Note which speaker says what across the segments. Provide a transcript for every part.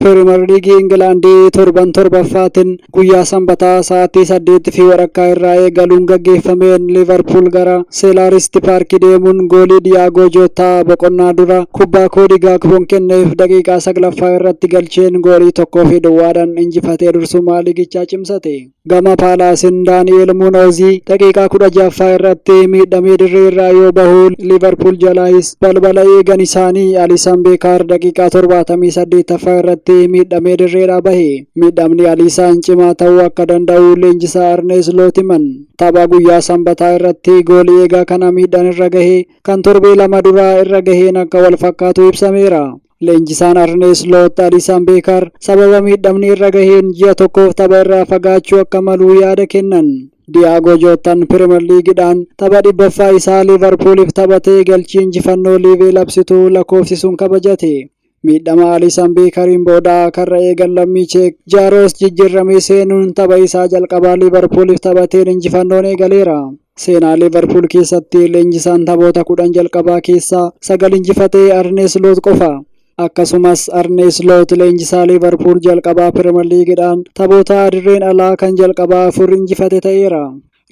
Speaker 1: Piriimer Liigii Ingilaandii torban torbaffaatiin guyyaa Sanbataa sa'aatii saddeetti fi walakkaa irraa eegaluun gaggeeffameen Liivarpuul gara Seelaaristi Paarkii deemuun goolii Diyaagoo Jootaa boqonnaa dura kubbaa Koodii Gaakpoon kenneef daqiiqaa saglaffaa irratti galcheen goolii tokkoo fi duwwaadhaan injifatee dursummaa liigichaa cimsate. Gama Paalaasin Daani'eel Munoozii daqiiqaa kudha ja'affaa irratti miidhamee dirree irraa yoo bahu Liivarpuul jalaayis balbala eegan isaanii Aliisan Beekaar daqiiqaa torbaatamii saddeettaffaa irratti miidhamee dirreedhaa bahe. Miidhamni Aliisaan cimaa ta'uu akka danda'u leenjisaa Arnee Isloot himan. Tapha guyyaa Sambataa irratti goolii eegaa kana miidhaan irra gahe kan torbee lama duraa irra gaheen akka wal fakkaatu ibsameera. Leenjisaan Arnee Sloot Alisaan Beekar sababa miidhamni irra gaheen ji'a tokkoof tapha irraa fagaachuu akka malu yaada kennan. Diyaagoo Jootan Pirimer Liigidhaan tapha dhibbaffaa isaa Liivarpuuliif taphatee galchii injifannoo Liivee labsitu lakkoofsisuun kabajate. Miidhama Alisaan Beekariin booda karra eegan lammii Cheek Jaaroos jijjiirramee seenuun tapha isaa jalqabaa Liivarpuuliif taphateen injifannoon eegaleera. Seenaa Liivarpuul keessatti leenjisaan taphoota kudhan jalqabaa keessaa sagal injifate Arnee Sloot qofa. Akkasumas Arnee Sloot leenjisaa Liivarpuul jalqabaa Piriimer Liigidhaan taphoota dirreen alaa kan jalqabaa afur injifate ta'eera.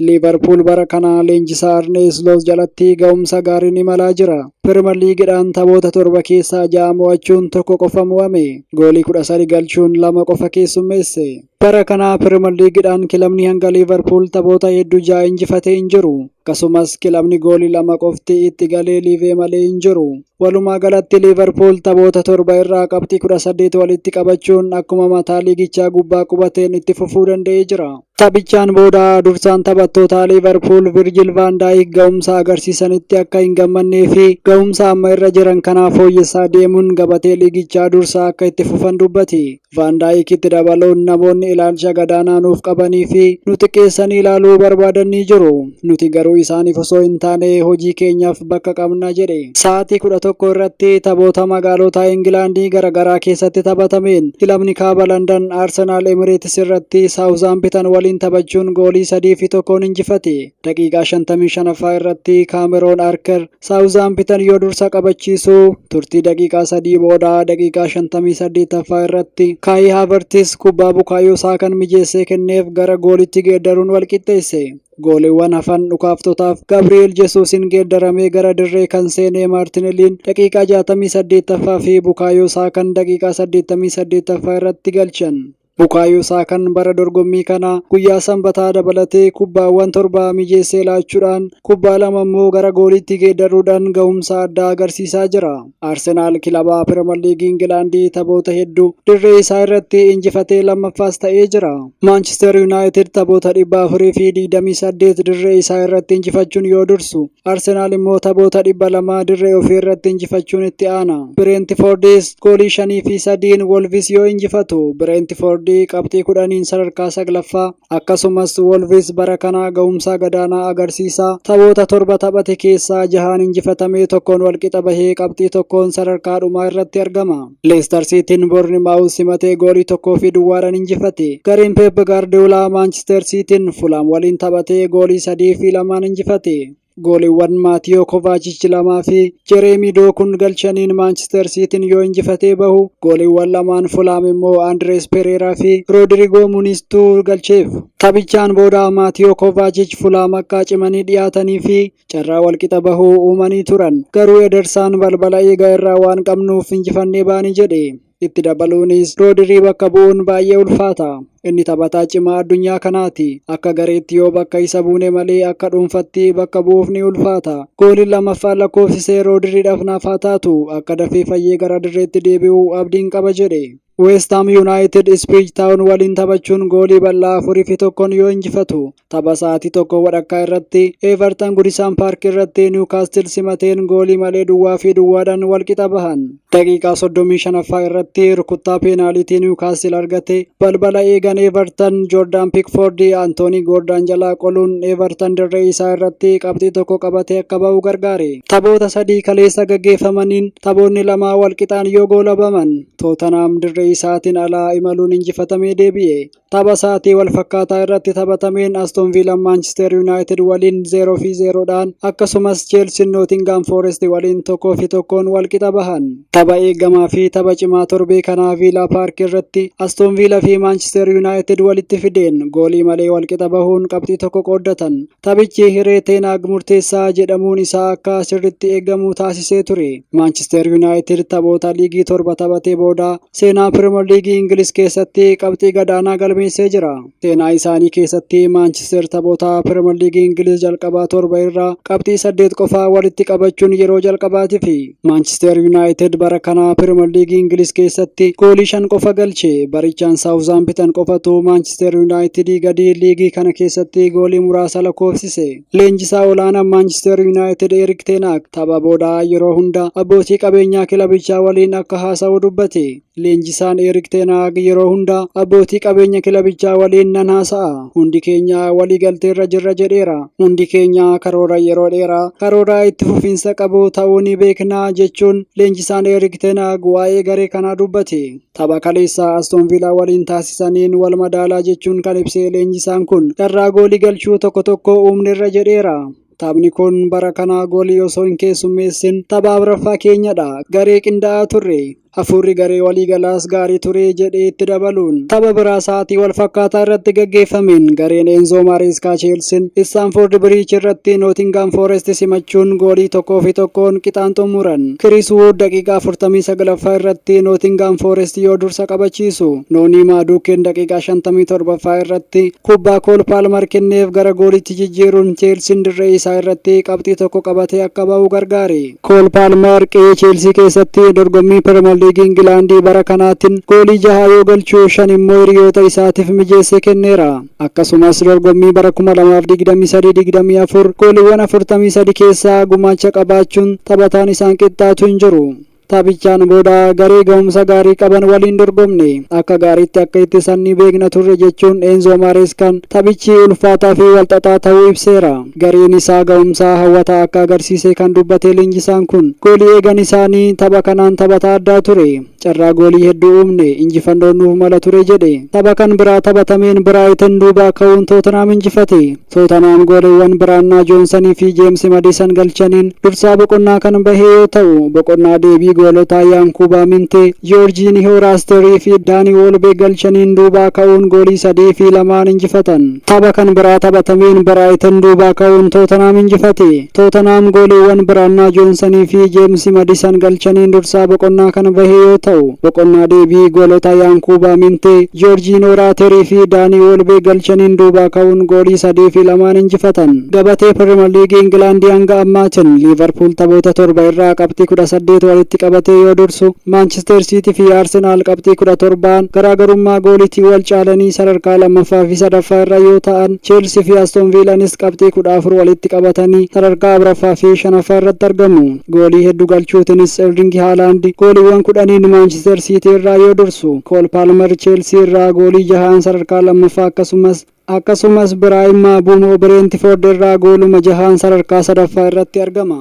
Speaker 1: Liivarpuul bara kana leenjisaa Arnee Sloot jalatti ga'umsa gaariin imalaa jira. Piriimer Liigidhaan taphoota torba keessaa ja'a mo'achuun tokko qofa mo'ame. Goolii 13 galchuun lama qofa keessummeesse. Bara kana Piriimer Liigidhaan kilabni hanga Liiverpuul taphoota hedduu ja'a injifatee hin jiru. Akkasumas kilabni goolii lama qofti itti galee liivee malee hin jiru. Walumaa galatti Liiverpuul taphoota torba irraa qabxii 18 walitti qabachuun akkuma mataa liigichaa gubbaa qubateen itti fufuu danda'ee jira. Taphichaan booda dursaan taphattootaa Liiverpuul Virjil Vaan Daayik ga'umsa agarsiisanitti akka hin gammannee fi ga'umsa amma irra jiran kanaa fooyyessaa deemuun gabatee liigichaa dursaa akka itti fufan dubbate. Vaandaayikitti dabaluun namoonni ilaalcha gadaanaa nuuf qabanii fi nu xiqqeessanii ilaaluu barbaadan ni jiru. Nuti garuu isaaniif osoo hin taane hojii keenyaaf bakka qabna jedhe. Sa'aatii 11:00 irratti taphoota magaalota Ingilaandii garagaraa keessatti taphatameen kilabni Kaaba Landan Arsenaal Emireetis irratti Saawuzhaampitan waliin taphachuun goolii 3 fi 1n injifate. Daqiiqaa 55ffaa irratti Kaameroon Arker Saawuzaampitan yoo dursa qabachiisu turtii daqiiqaa sadii booda daqiiqaa 58ffaa irratti Kaayii Haavertis kubbaa Bukaayoo Saakaan mijeessee kenneef gara goolitti geeddaruun walqixxeesse. Gooliiwwan hafan dhukaaftotaaf Gabri'eel Jesuusiin geeddaramee gara dirree kan seenee Maartineliin daqiiqaa 68ffaa fi Bukaayoo Saakaan daqiiqaa 88ffaa irratti galchan. Bukaayo Saakan bara dorgommii kana guyyaa Sanbataa dabalatee kubbaawwan torba mijeessee laachuudhaan kubbaa lama immoo gara gooliitti geeddarruudhaan gahumsa addaa agarsiisaa jira. Arsenaal kilaba Piriimer Liigii Ingilaandii taphoota heddu dirree isaa irratti injifatee lammaffaas ta'ee jira. Maanchister Yunaayitid taphoota 428 dirree isaa irratti injifachuun yoo dursu, Arsenaal immoo taphoota dhibba lamaa dirree ofii irratti injifachuun itti aana. Bireentifoordis goolii shanii fi sadiin Wolvis yoo injifatu Bireentifoordi qabxii kudhaniin sadarkaa saglaffaa akkasumas Wolvis bara kanaa gahumsaa gadaanaa agarsiisa. Taphoota torba taphate keessaa jahaan injifatamee tokkoon walqixa bahee qabxii tokkoon sadarkaa dhumaa irratti argama. Leestar Siitiin Boornimaawus simatee goolii tokkoo fi duwwaadhaan injifate. Gareen Peep Gaardiyoolaa Maanchister Siitiin Fulaam waliin taphatee goolii sadii fi lamaan injifate. Gooliiwwan Maatiyoo Kovaachich lamaa fi Jereemii Dookuun galchaniin Maanchister Siitiin yoo injifatee bahu, gooliiwwan lamaan Fulaam immoo Andirees Pereeraa fi Roodirigoo Muniistuu galcheef. Taphichaan booda Maatiyoo Kovaachich Fulaam akka cimanii dhiyaatanii fi carraa walqixa bahuu uumanii turan. Garuu Edersaan balbala eega irraa waan qabnuuf injifannee baane jedhe. Itti dabaluunis Roodirii bakka bu'uun baay'ee ulfaata. Inni taphataa cimaa addunyaa kanaati. Akka gareetti yoo bakka isa buune malee akka dhuunfatti bakka bu'uuf ni ulfaata. Gooliin lammaffaan lakkoofsise Roodiriidhaaf naaf haa taatu. Akka dafee fayyee gara dirreetti deebi'u abdiin qaba jedhe. Weest Haam Yuunaayitid Ispiriij Taawun waliin taphachuun goolii bal'aa afuriifi tokkoon yoo injifatu, Tapha sa'aatii tokko wadhakkaa irratti Everton Gudisaan Paark irratti Niwkaastil simateen goolii malee duwwaa fi duwwaadhaan walqixa bahan. Daqiiqaa 35ffaa irratti rukuttaa peenaaliitii Niwkaastil argate balbala eegan Everton Joordaan Pikfoordi Antoonii Goordaan jalaa qoluun Everton dirree isaa irratti qabxii tokko qabatee akka ba'u gargaare. Taphoota sadii kaleessa gaggeeffamaniin taphoonni lamaa walqixaan yoo goolabaman Tootanaam dirree isaatiin alaa imaluun injifatamee deebi'e. Tapha sa'aatii wal fakkaataa irratti taphatameen Aston Villa Manchester United waliin 0 fi 0 dhaan akkasumas Chelsea Nottingham Forest waliin 1 fi 1n wal qixa bahan. Tapha eegamaa fi tapha cimaa torbee kanaa Villa Park irratti Aston Villa fi Manchester United walitti fideen goolii malee wal qixa bahuun qabxii tokko qooddatan. Taphichi hiree Teenaag murteessaa jedhamuun isaa akka sirritti eegamu taasisee ture. Maanchisteer Yuunaayitid taphoota liigii torba taphatee booda seenaa Piriimer Liigii Ingiliz keessatti qabxii gadaanaa galmeessee jira. Seenaa isaanii keessatti Maanchisteer taphoota Piriimer Liigii Ingiliz jalqabaa torba irraa qabxii saddeet qofaa walitti qabachuun yeroo jalqabaatifi. Maanchisteer Yuunaayitid bara kana Piriimer Liigii Ingiliz keessatti goolii shan qofa galche. Barichaan Saawuzaampitan qofatu Maanchisteer Yuunaayitidii gadi liigii kana keessatti goolii muraasa lakkoofsise. Leenjisaa olaanaan Maanchisteer Yuunaayitid Erik Teenaak tapha booda yeroo hunda abbootii qabeenyaa kilabichaa waliin akka haasa'u dubbate. Leenjisaan Eerik Teenaag yeroo hunda abbootii qabeenya kilabichaa waliin nan haasa'a. Hundi keenya waliigalteerra jirra jedheera. Hundi keenya karoora yeroo dheeraa, karoora itti fufiinsa qabu ta'uu ni beekna, jechuun leenjisaan Eerik Teenaag waa'ee garee kanaa dubbate. Tapha kaleessaa Aston Viilaa waliin taasisaniin wal madaalaa jechuun kan ibse leenjisaan kun, carraa goolii galchuu tokko tokko uumnerra jedheera. Taphni kun bara kanaa goolii osoo hin keessummeessin tapha afraffaa keenyadha. Garee qindaa'aa turre. Hafuurri garee waliigalaas gaarii ture jedhee itti dabaluun tapha biraa sa'aatii wal fakkaataa irratti gaggeeffameen gareen Eenzoo Maareeskaa Cheelsiin Istaanfoord Biriich irratti Nootingaam Foorest simachuun goolii tokkoo fi tokkoon qixaan xumuran. Kiriis Wuud daqiiqaa 49ffaa irratti Nootingaam Foorest yoo dursa qabachiisu, Noonii Maaduukeen daqiiqaa 57ffaa irratti Kubbaa Kool Paalmar kenneef gara gooliitti jijjiiruun Cheelsiin dirree isaa irratti qabxii tokko qabatee akka ba'u gargaare. Kool Paalmar qe'ee Cheelsii keessatti dorgommii Piriimer Liigii Ingilaandii bara kanaattin goolii jaha yoo galchu, shan immoo hiriyoota isaatif mijeessee kenneera. Akkasumas dorgommii bara 2023, 24 gooliwwan 43 keessaa gumaacha qabaachuun taphataan isaan qixxaatu hin jiru. Taphichaan booda garee gahumsa gaarii qaban waliin dorgomne. Akka gaariitti akka ittisan ni beekna turre jechuun Eenzoo Maareeskaan taphichi ulfaataa fi walxaxaa ta'uu ibseera. Gareen isaa gahumsa hawwataa akka agarsiise kan dubbate leenjisaan kun, goolii eegan isaanii tapha kanaan taphataa addaa ture. Carraa goolii hedduu uumne, injifannoon nuuf mala ture jedhe. Tapha kan biraa taphatameen Biraayiten duubaa ka'uun Tootenhaam injifate. Tootanhaam gooliwwan Biraannaa Joonsanii fi Jeemsi Madiisan galchaniin dursaa boqonnaa kan bahe yoo ta'u, boqonnaa deebii goolota Yaankuubaa Mintee, Joorjiinihoo Raasterii fi Daanii Woolbeek galchaniin duubaa ka'uun goolii 3 fi 2n injifatan. Tapha kan biraa taphatameen Biraayitan duubaa ka'uun Tootanhaam injifate. Tootanhaam gooliiwwan Biraannaa Joonsanii fi Jeemsi Madisan galchaniin dursaa boqonnaa kana bahe yoo ta'u, boqonnaa deebii goolota Yaankuubaa Mintee, Joorjiinoo Raaterii fi Daanii Woolbeek galchaniin duubaa ka'uun goolii 3 fi 2n injifatan. Gabatee Piriimer Liigii Ingilaandi hanga ammaatin Liivarpuul taphoota 7 irraa qabxii 18 walitti qabatee yoo dursu, Maanchisteer Siitii fi Arsenaal qabxii 17n garaagarummaa gooliitiin wal caalanii sadarkaa 2ffaa fi 3ffaa irra yoo ta'an, Cheelsii fi Aston Viilaanis qabxii 14 walitti qabatanii sadarkaa afraffaa fi shanaffaa irratti argamu. Goolii heddu galchuutinis Erlingi Haalaandi gooliiwwan kudhaniin Maanchister Siitii irraa yoo dursu, Kool Paalmer Cheelsii irraa goolii jahaan sadarkaa lammaffaa akkasumas akkasumas Biraayim Mbuumoo Bireentifoord irraa gooluma jahaan sadarkaa sadaffaa irratti argama.